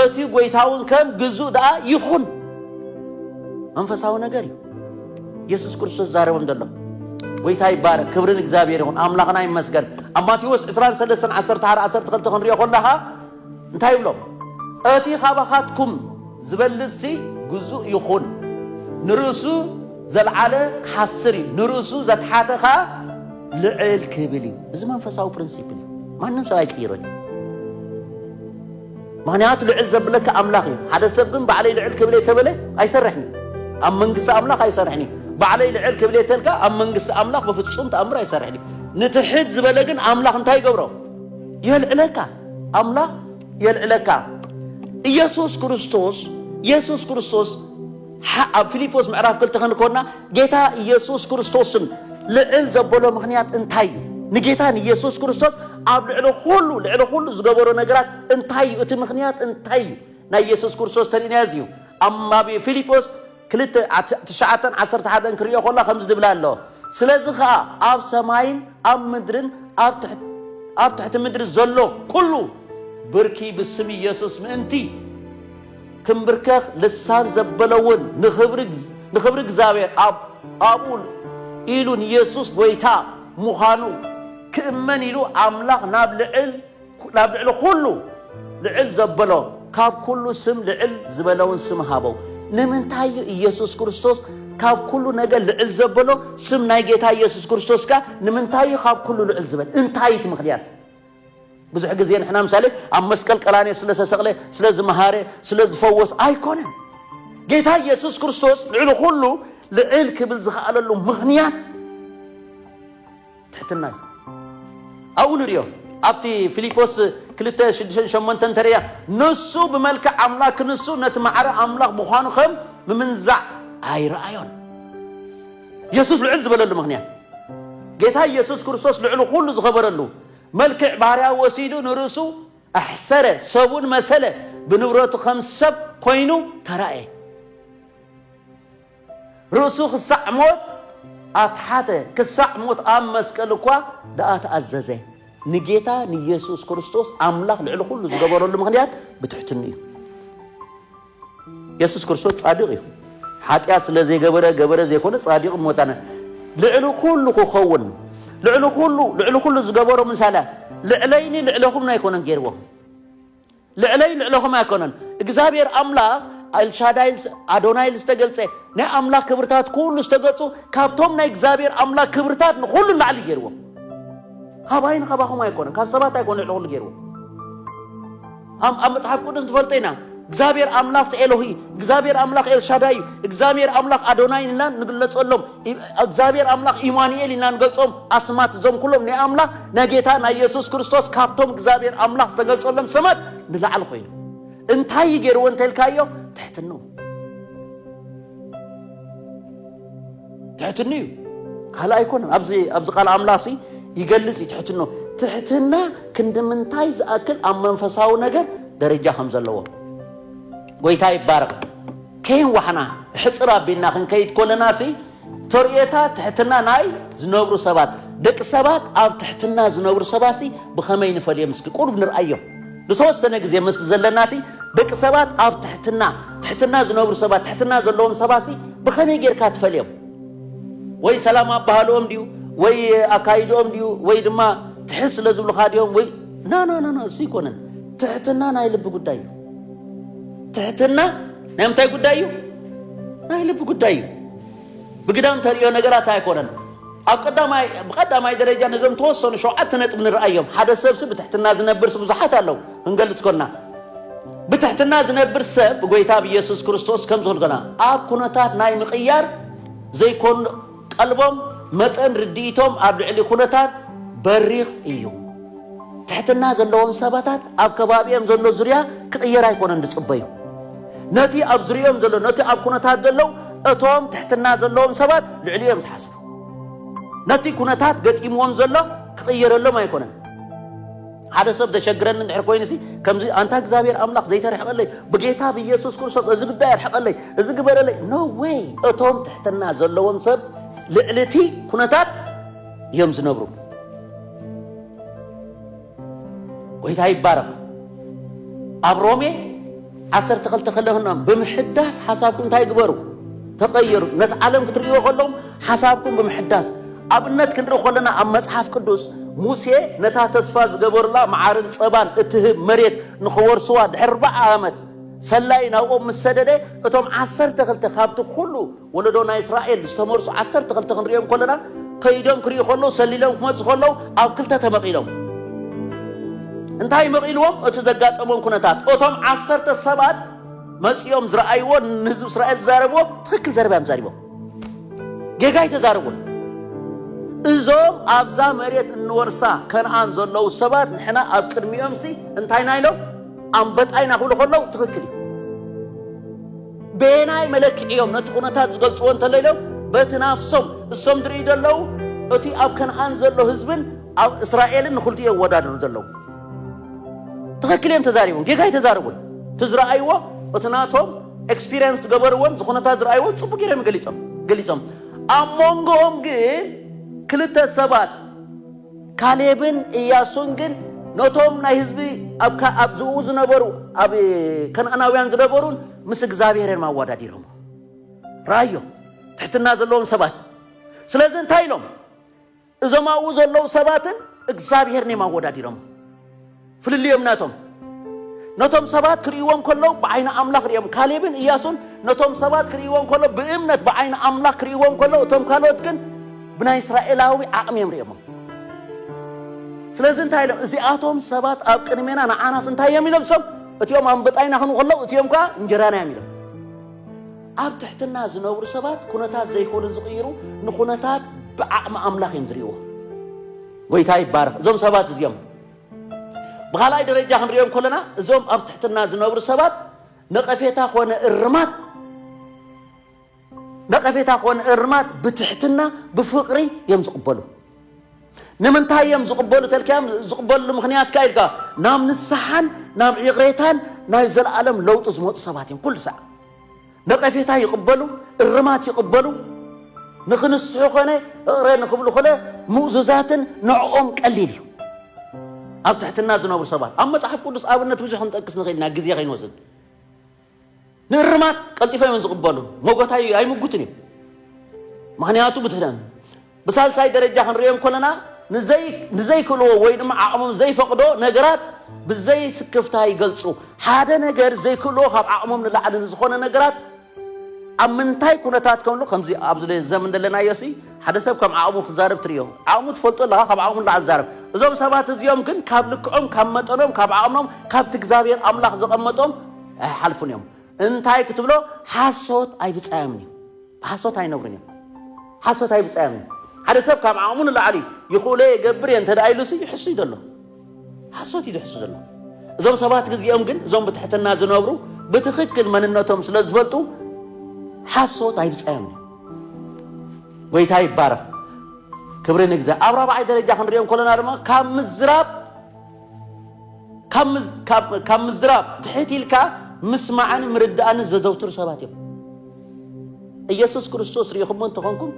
እቲ ጎይታውን ከም ግዙእ ደኣ ይኹን። መንፈሳዊ ነገር እዩ። ኢየሱስ ክርስቶስ ዛረቦም ዘሎ ጎይታ ይባረክ ክብርን እግዚኣብሔር ይኹን ኣምላኽና ይመስገን ኣብ ማቴዎስ 23 11 12 ክንሪኦ ከለኻ እንታይ ይብሎም እቲ ካባኻትኩም ዝበልጽሲ ግዙእ ይኹን ንርእሱ ዘልዓለ ክሓስር እዩ ንርእሱ ዘትሓተ ኸኣ ልዕል ክብል እዩ እዚ መንፈሳዊ ፕሪንሲፕል እዩ ማንም ሰብ ኣይቅይሮን እዩ ምክንያቱ ልዕል ዘብለካ ኣምላኽ እዩ ሓደ ሰብ ግን ባዕለይ ልዕል ክብል እየ ተበለ ኣይሰርሕን እዩ ኣብ መንግስቲ ኣምላኽ ኣይሰርሕን እዩ ባዕለይ ልዕል ክብል እየ ተልካ ኣብ መንግስቲ ኣምላኽ ብፍጹም ተኣምር ኣይሰርሕን እዩ ንትሕት ዝበለ ግን ኣምላኽ እንታይ ይገብሮ የልዕለካ ኣምላኽ የልዕለካ ኢየሱስ ክርስቶስ ኢየሱስ ክርስቶስ ሓ ኣብ ፊልጶስ ምዕራፍ ክልተ ክንኮና ጌታ ኢየሱስ ክርስቶስን ልዕል ዘበሎ ምክንያት እንታይ እዩ? ንጌታ ንኢየሱስ ክርስቶስ ኣብ ልዕሊ ኩሉ ልዕሊ ኩሉ ዝገበሮ ነገራት እንታይ እዩ? እቲ ምክንያት እንታይ እዩ? ናይ ኢየሱስ ክርስቶስ ተርእናዮ እዚ እዩ። ኣብ ኣብ ፊልጶስ ክልተ ትሽዓተን ዓሰርተ ሓደን ክርእዮ ከሎ ከምዚ ዝብል ኣሎ ስለዚ ከኣ ኣብ ሰማይን ኣብ ምድርን ኣብ ትሕቲ ኣብ ትሕቲ ምድሪ ዘሎ ኩሉ ብርኪ ብስም ኢየሱስ ምእንቲ ክንብርከኽ ልሳን ዘበለውን ንኽብሪ እግዚኣብሔር ኣብ ኣብኡ ኢሉ ንየሱስ ጐይታ ምዃኑ ክእመን ኢሉ ኣምላኽ ናብ ልዕል ናብ ልዕሊ ዅሉ ልዕል ዘበሎ ካብ ኵሉ ስም ልዕል ዝበለውን ስም ሃቦ። ንምንታይ እዩ ኢየሱስ ክርስቶስ ካብ ኵሉ ነገር ልዕል ዘበሎ? ስም ናይ ጌታ ኢየሱስ ክርስቶስ ከኣ ንምንታይ እዩ ካብ ኵሉ ልዕል ዝበለ? እንታይ እዩ እቲ ምኽንያት? ብዙሕ ግዜ ንሕና ምሳሌ ኣብ መስቀል ቀራንዮ ስለ ዝተሰቕለ ስለ ዝመሃረ ስለ ዝፈወስ ኣይኮነን ጌታ ኢየሱስ ክርስቶስ ልዕሊ ኩሉ ልዕል ክብል ዝኸኣለሉ ምኽንያት ትሕትና እዩ ኣብኡ ንሪኦ ኣብቲ ፊልጶስ ክልተ ሽዱሽተን ሸሞንተን ተርእያ ንሱ ብመልክዕ ኣምላክ ክንሱ ነቲ ማዕረ ኣምላኽ ምዃኑ ከም ምምንዛዕ ኣይረኣዮን ኢየሱስ ልዕል ዝበለሉ ምክንያት ጌታ ኢየሱስ ክርስቶስ ልዕሊ ኩሉ ዝኸበረሉ መልክዕ ባርያ ወሲዱ ንርእሱ ኣሕሰረ፣ ሰብውን መሰለ፣ ብንብረቱ ከም ሰብ ኮይኑ ተራእየ። ርእሱ ክሳዕ ሞት ኣትሓተ፣ ክሳዕ ሞት ኣብ መስቀል እኳ ደኣ ተኣዘዘ። ንጌታ ንየሱስ ክርስቶስ ኣምላኽ ልዕሊ ዅሉ ዝገበረሉ ምኽንያት ብትሕትንኡ እዩ። የሱስ ክርስቶስ ጻድቕ እዩ። ሓጢኣት ስለ ዘይገበረ ገበረ ዘይኮነ ጻድቕ ሞታነ ልዕሊ ኩሉ ክኸውን ልዕሊ ኩሉ ልዕሊ ኩሉ ዝገበሮ ምሳለ ልዕለይኒ ልዕለኹም ኣይኮነን ገይርዎ ልዕለይ ልዕለኹም ኣይኮነን እግዚኣብሔር ኣምላኽ ኤልሻዳይ ኣዶናይል ዝተገልጸ ናይ ኣምላኽ ክብርታት ኩሉ ዝተገጹ ካብቶም ናይ እግዚኣብሔር ኣምላኽ ክብርታት ንኹሉ ላዕሊ ገይርዎ ካባይን ካባኹም ኣይኮነ ካብ ሰባት ኣይኮነ ልዕሊ ኩሉ ገይርዎ ኣብ ኣብ መጽሓፍ ቅዱስ ንፈልጦ ኢና እግዚኣብሔር ኣምላኽ ኤሎሂ እግዚኣብሔር ኣምላኽ ኤልሻዳይ እግዚኣብሔር ኣምላኽ ኣዶናይ ኢልና ንግለጸሎም እግዚኣብሔር ኣምላኽ ኢማኑኤል ኢና ንገልጾም ኣስማት እዞም ኩሎም ናይ ኣምላኽ ናይ ጌታ ናይ የሱስ ክርስቶስ ካብቶም እግዚኣብሔር ኣምላኽ ዝተገልጸሎም ስማት ንላዕሊ ኮይኑ እንታይ ይገይርዎ እንተልካዮ ትሕትኖ ትሕትኑ እዩ ካልእ ኣይኮነን ኣብዚ ኣብዚ ቃል ኣምላኽሲ ይገልጽ እዩ ትሕትኖ ትሕትና ክንድምንታይ ዝኣክል ኣብ መንፈሳዊ ነገር ደረጃ ከም ዘለዎ ጎይታ ይባረቕ ከይንዋሕና ሕፅር ኣቢልና ክንከይድ ኮለና ሲ ተርእዮታ ትሕትና ናይ ዝነብሩ ሰባት ደቂ ሰባት ኣብ ትሕትና ዝነብሩ ሰባት ሲ ብኸመይ ንፈልዮም እስኪ ቁሩብ ንርኣዮም ንተወሰነ ግዜ ምስ ዘለናሲ ደቂ ሰባት ኣብ ትሕትና ትሕትና ዝነብሩ ሰባት ትሕትና ዘለዎም ሰባትሲ ብኸመይ ጌርካ ትፈልዮም? ወይ ሰላም ኣበሃህልኦም ድዩ ወይ ኣካይድኦም ድዩ ወይ ድማ ትሕት ስለ ዝብሉኻ ድዮም ወይ ናናናና እሱ ኣይኮነን ትሕትና ናይ ልቢ ጉዳይ እዩ ትሕትና ናይ ምንታይ ጉዳይ እዩ ናይ ልቢ ጉዳይ እዩ ብግዳም ተርእዮ ነገራት ኣይኮነን። ኣብ ቀዳማይ ብቀዳማይ ደረጃ ነዞም ተወሰኑ ሸውዓተ ነጥብ ንርኣዮም። ሓደ ሰብሲ ብትሕትና ዝነብርስ ብዙሓት ኣለው። ክንገልጽ ኮና ብትሕትና ዝነብር ሰብ ብጎይታ ብየሱስ ክርስቶስ ከም ዝኾን ኮና ኣብ ኩነታት ናይ ምቕያር ዘይኮን ቀልቦም መጠን ርድኢቶም ኣብ ልዕሊ ኩነታት በሪኽ እዩ። ትሕትና ዘለዎም ሰባታት ኣብ ከባቢኦም ዘሎ ዙርያ ክቕየር ኣይኮነን ዝጽበዩ። ነቲ ኣብ ዙርያኦም ዘሎ ነቲ ኣብ ኩነታት ዘለው እቶም ትሕትና ዘለዎም ሰባት ልዕሊኡ እዮም ዝሓስቡ። ነቲ ኩነታት ገጢምዎም ዘሎ ክቕየረሎም ኣይኮነን። ሓደ ሰብ ዘሸግረኒ እንድሕር ኮይኑሲ ከምዚ ኣንታ እግዚኣብሔር ኣምላኽ ዘይተርሕቐለይ ብጌታ ብኢየሱስ ክርስቶስ እዚ ጉዳይ ኣርሕቐለይ እዚ ግበረለይ ኖ ወይ እቶም ትሕትና ዘለዎም ሰብ ልዕሊ እቲ ኩነታት እዮም ዝነብሩ ጎይታ ይባረኽ ኣብ ሮሜ ዓሰርተ ክልተ ከለኹና ብምሕዳስ ሓሳብኩም እንታይ ግበሩ ተቐየሩ ነቲ ዓለም ክትርእዮ ከለኹም ሓሳብኩም ብምሕዳስ ኣብነት ክንርኢ ከለና ኣብ መጽሓፍ ቅዱስ ሙሴ ነታ ተስፋ ዝገበሩላ መዓርን ጸባን እትህብ መሬት ንኽወርስዋ ድሕሪ ኣርባዓ ዓመት ሰላይ ናብኦም ምስ ሰደደ እቶም ዓሰርተ ክልተ ካብቲ ኩሉ ወለዶ ናይ እስራኤል ዝተመርጹ ዓሰርተ ክልተ ክንሪኦም ከለና ከይዶም ክሪኡ ከለዉ ሰሊሎም ክመጹ ከለዉ ኣብ ክልተ ተመቒሎም እንታይ መቒልዎም እቲ ዘጋጠሞም ኩነታት እቶም ዓሰርተ ሰባት መጺኦም ዝረኣይዎ ንህዝቢ እስራኤል ዝዛረብዎ ትኽክል ዘረባ እዮም ዛሪቦም ጌጋ ኣይተዛረቡን እዞም ኣብዛ መሬት እንወርሳ ከነኣን ዘለዉ ሰባት ንሕና ኣብ ቅድሚኦምሲ እንታይና ኢሎም ኣንበጣይና ክብሉ ከለዉ ትኽክል እዩ በየናይ መለክዒ እዮም ነቲ ኩነታት ዝገልጽዎ እንተሎ ኢሎም በቲ ናፍሶም እሶም ዝርእዩ ዘለዉ እቲ ኣብ ከነኣን ዘሎ ህዝብን ኣብ እስራኤልን ንክልቲኡ የወዳድሩ ዘለዉ ትኽክል እዮም ተዛሪቦም ጌጋ ኣይተዛረቡን እቲ ዝረኣይዎ እቲ ናቶም ኤክስፒሪንስ ዝገበርዎን ዝኹነታት ዝረኣይዎን ፅቡቅ ገይሮም ገሊፆም ገሊፆም ኣብ መንጎኦም ግን ክልተ ሰባት ካሌብን እያሱን ግን ነቶም ናይ ህዝቢ ኣብ ዝኡ ዝነበሩ ኣብ ከነኣናውያን ዝነበሩን ምስ እግዚኣብሔር እዮም ኣወዳዲሮም ራዮ ትሕትና ዘለዎም ሰባት ስለዚ እንታይ ኢሎም እዞም ኣብኡ ዘለዉ ሰባትን እግዚኣብሔርን እዮም ኣወዳዲሮም ፍልልዮም ናቶም ነቶም ሰባት ክርእይዎም ከለዉ ብዓይኒ ኣምላኽ ርእዮም ካሌብን እያሱን ነቶም ሰባት ክርእይዎም ከለዉ ብእምነት ብዓይኒ ኣምላኽ ክርእይዎም ከለዉ እቶም ካልኦት ግን ብናይ እስራኤላዊ ዓቕሚ እዮም ርእዮሞ ስለዚ እንታይ ኢሎም እዚኣቶም ሰባት ኣብ ቅድሜና ንዓናስ እንታይ እዮም ኢሎም ሰብ እቲኦም ኣንበጣይና ክንኡ ከለዉ እቲኦም ከዓ እንጀራና እዮም ኢሎም ኣብ ትሕትና ዝነብሩ ሰባት ኩነታት ዘይኮኑ ዝቕይሩ ንኩነታት ብዓቕሚ ኣምላኽ እዮም ዝርእዎ ጎይታ ይባረኽ እዞም ሰባት እዚኦም ብኻልኣይ ደረጃ ክንሪኦ እንከለና እዞም ኣብ ትሕትና ዝነብሩ ሰባት ነቐፌታ ኮነ እርማት ነቐፌታ ኮነ እርማት ብትሕትና ብፍቕሪ እዮም ዝቕበሉ ንምንታይ እዮም ዝቕበሉ ተልካዮም ዝቕበሉ ምክንያት ከ ኢልካ ናብ ንስሓን ናብ ይቕሬታን ናይ ዘለኣለም ለውጢ ዝመፁ ሰባት እዮም ኩሉ ሰዓት ነቐፌታ ይቕበሉ፣ እርማት ይቕበሉ፣ ንኽንስሑ ኮነ እቕረ ንኽብሉ ኮነ ምእዙዛትን ንዕኦም ቀሊል እዩ። ኣብ ትሕትና ዝነብሩ ሰባት ኣብ መጽሓፍ ቅዱስ ኣብነት ብዙሕ ክንጠቅስ ንኽእል ኢና ግዜ ከይንወስድ። ንእርማት ቀልጢፎም እዮም ዝቕበሉ፣ መጎታይ ኣይምጉትን እዩ። ምኽንያቱ ብትሕትና ብሳልሳይ ደረጃ ክንርእዮ እንከለና ንዘይክእልዎ ወይ ድማ ዓቕሞም ዘይፈቕዶ ነገራት ብዘይ ስክፍታ ይገልጹ። ሓደ ነገር ዘይክእልዎ ካብ ዓቕሞም ንላዕሊ ንዝኾነ ነገራት ኣብ ምንታይ ኩነታት ከምሉ ከምዚ ኣብዚ ዘመን ዘለናዮሲ ሓደ ሰብ ከም ዓቕሙ ክዛረብ ትርእዮ። ዓቕሙ ትፈልጦ ኣለኻ ካብ ዓቕሙ ንላዕሊ ዝዛረብ። እዞም ሰባት እዚኦም ግን ካብ ልክዖም ካብ መጠኖም ካብ ዓቕሞም ካብቲ እግዚኣብሔር ኣምላኽ ዘቐመጦም ኣይሓልፉን እዮም። እንታይ ክትብሎ ሓሶት ኣይብጻዮምን እዩ። ብሓሶት ኣይነብሩን እዮም። ሓሶት ኣይብጻዮም እዩ። ሓደ ሰብ ካብ ዓቕሙ ንላዕሊ ይኽእሎ እየ ገብር እየ እንተ ኢሉሲ ይሕሱ እዩ ዘሎ። ሓሶት እዩ ዝሕሱ ዘሎ። እዞም ሰባት ግዚኦም ግን እዞም ብትሕትና ዝነብሩ ብትኽክል መንነቶም ስለ ዝፈልጡ ሓሶት ኣይብጻዮም እዩ። ጎይታ ይባረኽ። ክብሪ ንግዛ ኣብ ራብዓይ ደረጃ ክንሪኦ ከለና ድማ ካብ ምዝራብ ካብ ምዝራብ ትሕት ኢልካ ምስማዕን ምርዳእን ዘዘውትሩ ሰባት እዮም። ኢየሱስ ክርስቶስ ርኢኹሞ እንተኾንኩም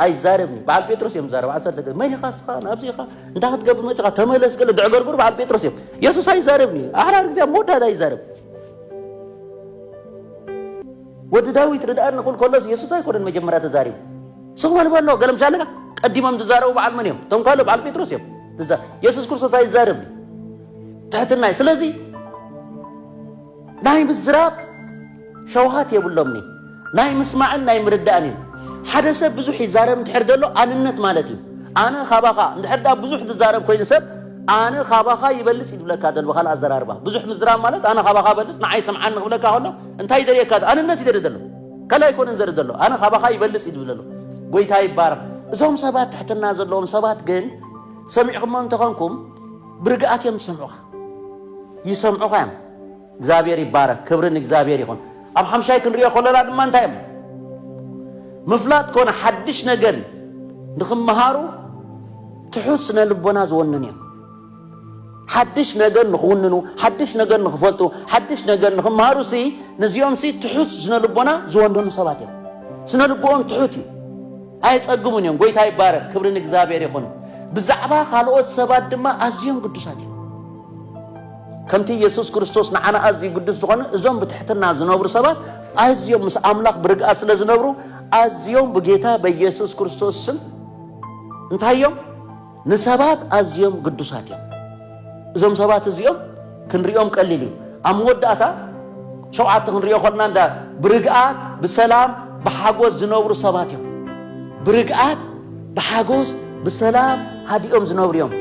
ኣይዛረብን እዩ በዓል ጴጥሮስ እዮም ዛረብ ዓሰርተ ገ መን ኢኻ ስኻ ናብዚ ኢኻ እንታይ ክትገብር መፂኻ ተመለስ ገለ ድዕገርግሩ በዓል ጴጥሮስ እዮም የሱስ ኣይዛረብን እዩ ኣሕራር ግዜ መወዳእታ ይዛረብ ወዲ ዳዊት ርድኣኒ ክብል ከሎስ የሱስ ኣይኮነን መጀመርያ ተዛሪቡ ስቕ በል በሎ ገለ ምሻ ኣለካ ቀዲሞም ዝዛረቡ በዓል መን እዮም ተንኳሎ በዓል ጴጥሮስ እዮም የሱስ ክርስቶስ ኣይዛረብ ትሕትና ስለዚ ናይ ምዝራብ ሸውሃት የብሎምኒ ናይ ምስማዕን ናይ ምርዳእን እዩ ሓደ ሰብ ብዙሕ ይዛረብ እንድሕር ዘሎ ኣንነት ማለት እዩ ኣነ ካባኻ እንድሕር ዳ ብዙሕ ትዛረብ ኮይኑ ሰብ ኣነ ካባኻ ይበልፅ ይብለካ ዘሎ ብካልእ ኣዘራርባ ብዙሕ ምዝራብ ማለት ኣነ ካባኻ በልፅ ንዓይ ስምዓኒ ክብለካ ከሎ እንታይ ይደልየካ ኣንነት ይደሊ ዘሎ ካልእ ኣይኮነን ዘርኢ ዘሎ ኣነ ካባኻ ይበልጽ እዩ ዝብል ዘሎ ጎይታ ይባረኽ እዞም ሰባት ትሕትና ዘለዎም ሰባት ግን ሰሚዕኹሞ እንተኾንኩም ብርግኣት እዮም ዝሰምዑኻ ይሰምዑኻ እዮም እግዚኣብሔር ይባረክ ክብሪ ንእግዚኣብሔር ይኹን ኣብ ሓምሻይ ክንሪኦ ከለና ድማ እንታይ እዮም ምፍላጥ ኮነ ሓድሽ ነገር ንክመሃሩ ትሑት ስነ ልቦና ዝወንን እዮም ሓድሽ ነገር ንኽውንኑ፣ ሓድሽ ነገር ንኽፈልጡ፣ ሓድሽ ነገር ንኽምሃሩ ሲ ንዚኦም ሲ ትሑት ስነ ልቦና ዝወንኑ ሰባት እዮም። ስነ ልቦኦም ትሑት እዩ። ኣየጸግሙን እዮም። ጎይታ ይባረክ፣ ክብሪ ንእግዚኣብሔር ይኹን። ብዛዕባ ካልኦት ሰባት ድማ ኣዝዮም ግዱሳት እዮም። ከምቲ ኢየሱስ ክርስቶስ ንዓና ኣዝዩ ግዱስ ዝኾነ እዞም ብትሕትና ዝነብሩ ሰባት ኣዝዮም ምስ ኣምላኽ ብርግኣት ስለ ዝነብሩ ኣዝዮም ብጌታ በኢየሱስ ክርስቶስ ስም እንታይ እዮም ንሰባት ኣዝዮም ግዱሳት እዮም። እዞም ሰባት እዚኦም ክንሪኦም ቀሊል እዩ። ኣብ መወዳእታ ሸውዓተ ክንሪኦ ኮና እንዳ ብርግኣት ብሰላም ብሓጎስ ዝነብሩ ሰባት እዮም። ብርግኣት ብሓጎስ ብሰላም ሃዲኦም ዝነብሩ እዮም።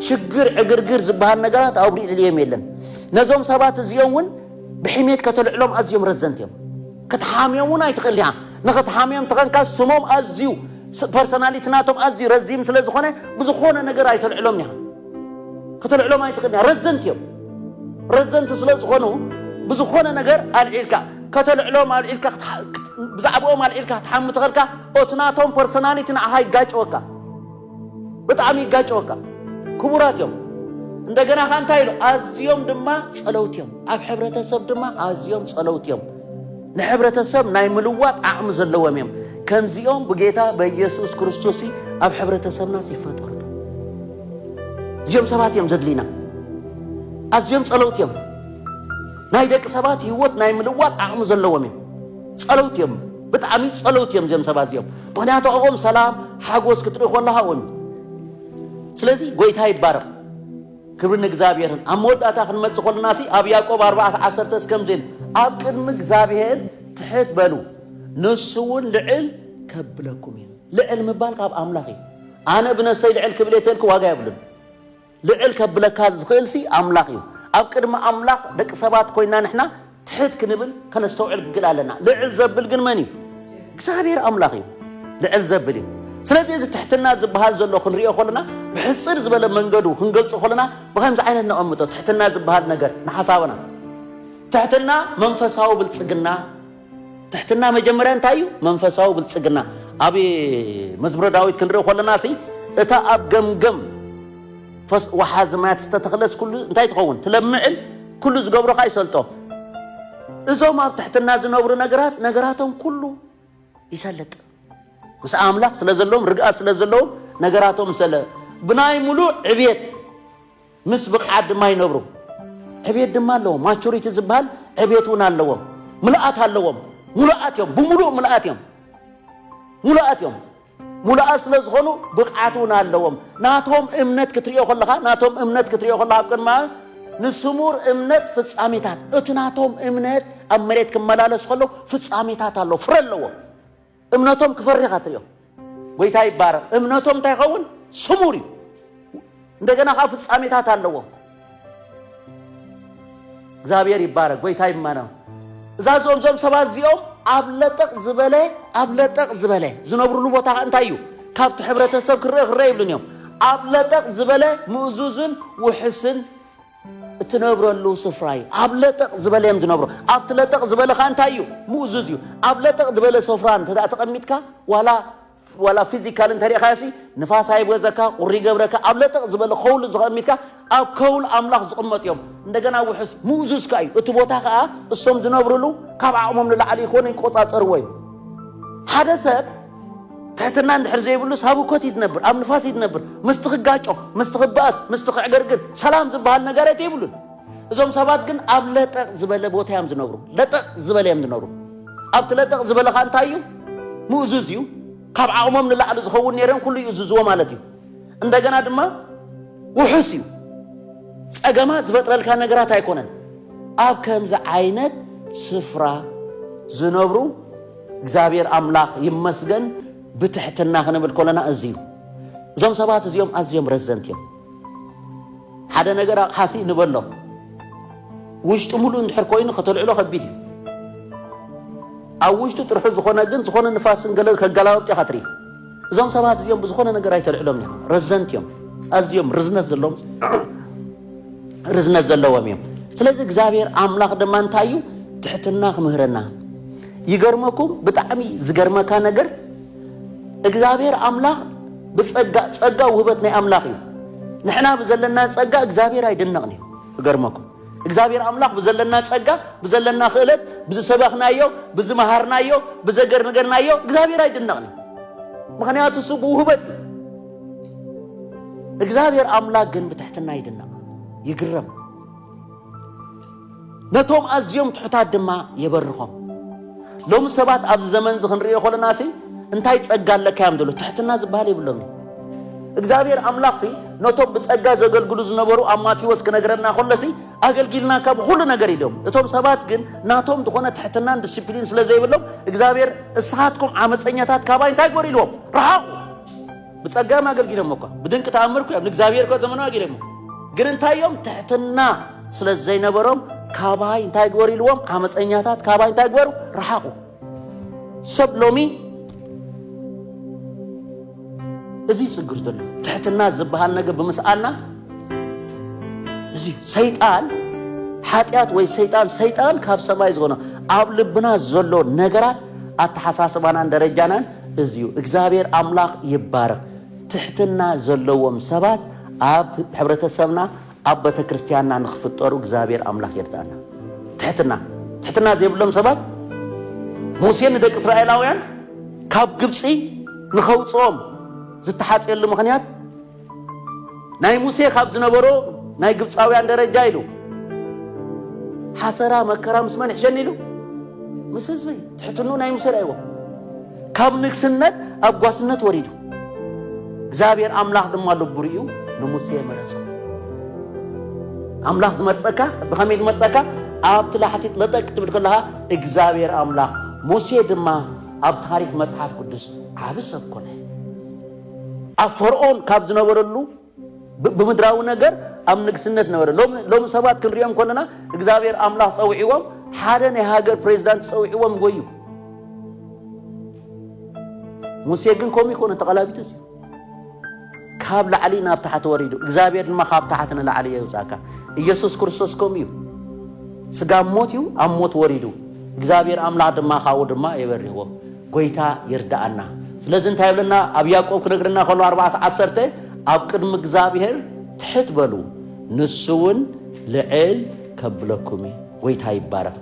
ሽግር ዕግርግር ዝበሃል ነገራት ኣብ ልዕሊኦም የለን። ነዞም ሰባት እዚኦም እውን ብሕሜት ከተልዕሎም ኣዝዮም ረዘንቲ እዮም። ክትሓምዮም ውን ኣይትኽእል ኢኻ ንኽትሓምዮም ተኸንካ ስሞም ኣዝዩ ፐርሰናሊቲ ናቶም ኣዝዩ ረዚን ስለ ዝኾነ ብዝኾነ ነገር ኣይተልዕሎምን ኢኻ ከተልዕሎም ኣይትኽእልን ኢኻ ረዘንቲ እዮም ረዘንቲ ስለ ዝኾኑ ብዝኾነ ነገር ኣልዒልካ ከተልዕሎም ኣልዒልካ ብዛዕባኦም ኣልዒልካ ክትሓሚ ተኸልካ ኦቲ ናቶም ፐርሰናሊቲ ንዓኻ ይጋጨወካ ብጣዕሚ ይጋጨወካ ክቡራት እዮም እንደገና ከ እንታይ ኢሉ ኣዝዮም ድማ ጸለውቲ እዮም ኣብ ሕብረተሰብ ድማ ኣዝዮም ጸለውቲ እዮም ንሕብረተሰብ ናይ ምልዋጥ ዓቕሚ ዘለዎም እዮም ከምዚኦም ብጌታ በኢየሱስ ክርስቶስ ኣብ ሕብረተሰብና ይፈጠሩ እዚኦም ሰባት እዮም ዘድልዩና ኣዝዮም ጸለውቲ እዮም ናይ ደቂ ሰባት ህይወት ናይ ምልዋጥ ዓቕሚ ዘለዎም እዮም ጸለውቲ እዮም ብጣዕሚ ጸለውቲ እዮም እዚኦም ሰባት እዚኦም ምክንያቱ ኣብኦም ሰላም ሓጎስ ክትርኢ ኮለካ እውን እዩ ስለዚ ጎይታ ይባረኽ ክብሪ ንእግዚኣብሔርን ኣብ መወዳእታ ክንመጽእ ኮለና ሲ ኣብ ያዕቆብ ኣርባዕተ ዓሰርተ እስከምዚ ኢል ኣብ ቅድሚ እግዚኣብሔር ትሕት በሉ ንሱ እውን ልዕል ከብለኩም እዩ ልዕል ምባል ካብ ኣምላኽ እዩ ኣነ ብነፍሰይ ልዕል ክብል እየ ተልኪ ዋጋ የብሉን ልዕል ከብለካ ዝኽእልሲ ኣምላኽ እዩ። ኣብ ቅድሚ ኣምላኽ ደቂ ሰባት ኮይና ንሕና ትሕት ክንብል ከነስተውዕል ግግል ኣለና። ልዕል ዘብል ግን መን እዩ? እግዚኣብሔር ኣምላኽ እዩ ልዕል ዘብል እዩ። ስለዚ እዚ ትሕትና ዝበሃል ዘሎ ክንሪኦ ከለና ብሕጽር ዝበለ መንገዱ ክንገልጾ ከለና ብኸምዚ ዓይነት ነቐምጦ ትሕትና ዝበሃል ነገር ንሓሳብና። ትሕትና መንፈሳዊ ብልጽግና ትሕትና መጀመርያ እንታይ እዩ? መንፈሳዊ ብልጽግና ኣብ መዝሙረ ዳዊት ክንርኢ ኮለና ሲ እታ ኣብ ገምገም ፈስ ወሓዚ ማያት ዝተተኽለስ ኩሉ እንታይ ትኸውን ትለምዕን ኩሉ ዝገብሮ ኸኣ ይሰልጦ እዞም ኣብ ትሕትና ዝነብሩ ነገራት ነገራቶም ኩሉ ይሰልጥ ምስ ኣምላኽ ስለ ዘለዎም ርግኣት ስለ ዘለዎም ነገራቶም ሰለ ብናይ ምሉእ ዕብየት ምስ ብቕዓት ድማ ይነብሩ። ዕብየት ድማ ኣለዎም። ማቹሪቲ ዝበሃል ዕብየት እውን ኣለዎም። ምልኣት ኣለዎም። ሙሉኣት እዮም። ብምሉእ ምልኣት እዮም። ሙሉኣት እዮም። ሙሉኣት ስለ ዝኾኑ ብቕዓት እውን ኣለዎም። ናቶም እምነት ክትሪኦ ከለኻ ናቶም እምነት ክትሪኦ ከለኻ ኣብ ቅድማ ንስሙር እምነት ፍጻሜታት እቲ ናቶም እምነት ኣብ መሬት ክመላለስ ከሎ ፍጻሜታት ኣለዎ፣ ፍረ ኣለዎ። እምነቶም ክፈሪ ኢኻ ትሪኦም። ጎይታ ይባረኽ። እምነቶም እንታይ ይኸውን? ስሙር እዩ። እንደገና ከዓ ፍጻሜታት ኣለዎም። እግዚኣብሔር ይባረክ፣ ጎይታ ይመነ። እዛ ዞም ዞም ሰባት እዚኦም ኣብ ለጠቕ ዝበለ ኣብ ለጠቕ ዝበለ ዝነብሩሉ ቦታ ከዓ እንታይ እዩ? ካብቲ ሕብረተሰብ ክረእ ክረእ ይብሉን እዮም። ኣብ ለጠቕ ዝበለ ምእዙዝን ውሕስን እትነብረሉ ስፍራ እዩ ኣብ ለጠቕ ዝበለ እዮም ዝነብሩ ኣብቲ ለጠቕ ዝበለ ኸ እንታይ እዩ ምእዙዝ እዩ ኣብ ለጠቕ ዝበለ ስፍራ እንተ ተቐሚጥካ ዋላ ዋላ ፊዚካል እንተሪእኻዮ ሲ ንፋስ ኣይብገዘካ ቁሪ ይገብረካ ኣብ ለጠቕ ዝበለ ከውሊ ዝቐሚጥካ ኣብ ከውል ኣምላኽ ዝቕመጡ እዮም እንደገና ውሕስ ምእዙዝ ከ እዩ እቲ ቦታ ከዓ እሶም ዝነብርሉ ካብ ዓቕሞም ንላዕሊ ይኮነ ይቆፃፀርዎ እዩ ሓደ ሰብ ትሕትና እንድሕር ዘይብሉስ ኣብ እኮት እዩ ትነብር፣ ኣብ ንፋስ እዩ ትነብር። ምስቲ ክጋጮ፣ ምስቲ ክበኣስ፣ ምስቲ ክዕገርግር ሰላም ዝበሃል ነገረት የብሉን። እዞም ሰባት ግን ኣብ ለጠቕ ዝበለ ቦታ እዮም ዝነብሩ፣ ለጠቕ ዝበለ እዮም ዝነብሩ። ኣብቲ ለጠቕ ዝበለ ኸኣ እንታይ እዩ? ምእዙዝ እዩ። ካብ ዓቕሞም ንላዕሊ ዝኸውን ነይሮም ኩሉ ይእዝዝዎ ማለት እዩ። እንደገና ድማ ውሑስ እዩ። ጸገማ ዝፈጥረልካ ነገራት ኣይኮነን። ኣብ ከምዚ ዓይነት ስፍራ ዝነብሩ እግዚኣብሔር ኣምላኽ ይመስገን ብትሕትና ክንብል ኮለና እዚዩ እዞም ሰባት እዚኦም ኣዝዮም ረዘንት እዮም ሓደ ነገር ኣቕሓሲ ንበሎ ውሽጢ ሙሉእ እንድሕር ኮይኑ ከተልዕሎ ከቢድ እዩ ኣብ ውሽጢ ጥርሑ ዝኾነ ግን ዝኾነ ንፋስን ገለ ከገላበጥ ኢኻ ትርኢ እዞም ሰባት እዚኦም ብዝኾነ ነገር ኣይተልዕሎም ኒኻ ረዘንት እዮም ኣዝዮም ርዝነት ዘለዎም ርዝነት ዘለዎም እዮም ስለዚ እግዚኣብሔር ኣምላኽ ድማ እንታይ እዩ ትሕትና ክምህረና ይገርመኩም ብጣዕሚ ዝገርመካ ነገር እግዚኣብሔር ኣምላኽ ብፀጋ ፀጋ ውህበት ናይ ኣምላኽ እዩ ንሕና ዘለና ፀጋ እግዚኣብሔር ኣይድነቕን እዩ ይገርመኩም እግዚኣብሔር ኣምላኽ ብዘለና ጸጋ ብዘለና ክእለት ብዝሰበኽናዮ ብዝመሃርናዮ ብዘገርንገርናዮ እግዚኣብሔር ኣይድነቕን ምክንያቱ እሱ ብውህበት እዩ እግዚኣብሔር ኣምላክ ግን ብትሕትና ይድነቕ ይግረም ነቶም ኣዝዮም ትሑታት ድማ የበርኾም ሎሚ ሰባት ኣብዚ ዘመንዚ ክንርእዮ ኮለናሲ እንታይ ጸጋ ኣለካ እዮም ዘሎ ትሕትና ዝበሃል የብሎምን እግዚኣብሔር ኣምላኽሲ ነቶም ብጸጋ ዘገልግሉ ዝነበሩ ኣብ ማቴዎስ ክነግረና ኮለሲ ኣገልጊልና ካብ ኹሉ ነገር ኢሎም እቶም ሰባት ግን ናቶም ዝኾነ ትሕትናን ዲስፕሊን ስለ ዘይብሎም እግዚኣብሔር እስኻትኩም ዓመፀኛታት ካባይ እንታይ ግበሩ ኢልዎም ረሓቑ ብጸጋም ኣገልጊሎሞ እኳ፣ ብድንቂ ተኣምር እኳዮም ንእግዚኣብሄር እኳ ዘመኑ ኣጊሎሞ፣ ግን እንታይ እዮም ትሕትና ስለ ዘይነበሮም ካባይ እንታይ ግበሩ ኢልዎም፣ ዓመጸኛታት ካባይ እንታይ ግበሩ ረሓቑ። ሰብ ሎሚ እዚ ይጽግር ዘሎ ትሕትና ዝበሃል ነገር ብምስኣና እዚ ሰይጣን ሓጢኣት ወይ ሰይጣን ሰይጣን ካብ ሰማይ ዝኾነ ኣብ ልብና ዘሎ ነገራት ኣተሓሳስባናን ደረጃናን እዝዩ እግዝኣብሔር ኣምላኽ ይባረኽ ትሕትና ዘለዎም ሰባት ኣብ ሕብረተሰብና ኣብ በተክርስትያንና ንክፍጠሩ እግዝኣብሔር ኣምላኽ ይርዳና ትሕትና ትሕትና ዘይብሎም ሰባት ሙሴ ንደቂ እስራኤላውያን ካብ ግብጺ ንኸውጽኦም ዝተሓጽየሉ ምኽንያት ናይ ሙሴ ካብ ዝነበሮ ናይ ግብፃውያን ደረጃ ኢሉ ሓሰራ መከራ ምስ መን ሕሸኒ ኢሉ ምስ ህዝቢ ትሕትኑ ናይ ሙሴ ርእይዎ ካብ ንግስነት ኣብ ጓስነት ወሪዱ እግዚኣብሔር ኣምላኽ ድማ ልቡ ርእዩ ንሙሴ መረጾ ኣምላኽ ዝመርጸካ ብኸመይ ዝመርጸካ ኣብቲ ላሕቲት ለጠቅ ትብል ከለኻ እግዚኣብሔር ኣምላኽ ሙሴ ድማ ኣብ ታሪክ መጽሓፍ ቅዱስ ዓቢ ሰብ ኮነ ኣብ ፈርኦን ካብ ዝነበረሉ ብምድራዊ ነገር ኣብ ንግስነት ነበረ። ሎሚ ሎሚ ሰባት ክንሪኦም ከለና እግዚኣብሔር ኣምላኽ ጸውዒዎም ሓደ ናይ ሃገር ፕሬዚዳንት ጸውዒዎም ጎዩ። ሙሴ ግን ከምኡ ይኮነ ተቐላቢጡ እዩ ካብ ላዕሊ ናብ ታሕቲ ወሪዱ እግዚኣብሔር ድማ ካብ ታሕቲ ንላዕሊ የውፃእካ ኢየሱስ ክርስቶስ ከምኡ እዩ ስጋ ሞት እዩ ኣብ ሞት ወሪዱ እግዚኣብሔር ኣምላኽ ድማ ካብኡ ድማ የበሪዎ ጎይታ ይርድኣና ስለዚ እንታይ ይብለና ኣብ ያቆብ ክነግረና ከሎ ኣርባዕተ ዓሰርተ ኣብ ቅድሚ እግዝኣብሄር ትሕት በሉ ንሱ ውን ልዕል ከብለኩም እዩ ጎይታ ይባረክ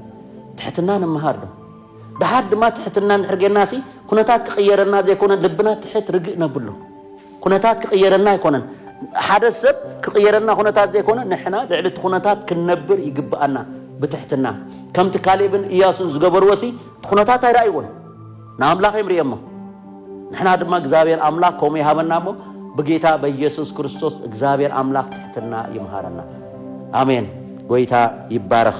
ትሕትና ንምሃር ዶ ድሓር ድማ ትሕትና እንድሕር ጌርና ሲ ኩነታት ክቅየረልና ዘይኮነ ልብና ትሕት ርግእ ነብሎ ኩነታት ክቕየረልና ኣይኮነን ሓደ ሰብ ክቕየረልና ኩነታት ዘይኮነ ንሕና ልዕሊ እቲ ኩነታት ክንነብር ይግብኣና ብትሕትና ከምቲ ካሌብን እያሱን ዝገበርዎሲ ኩነታት ኣይረኣይዎን ንኣምላኽ እዮም ርእዮሞ ንሕና ድማ እግዚኣብሔር ኣምላኽ ከምኡ ይሃበና እሞ ብጌታ በኢየሱስ ክርስቶስ እግዚኣብሔር ኣምላኽ ትሕትና ይምሃረና ኣሜን ጎይታ ይባረኽ።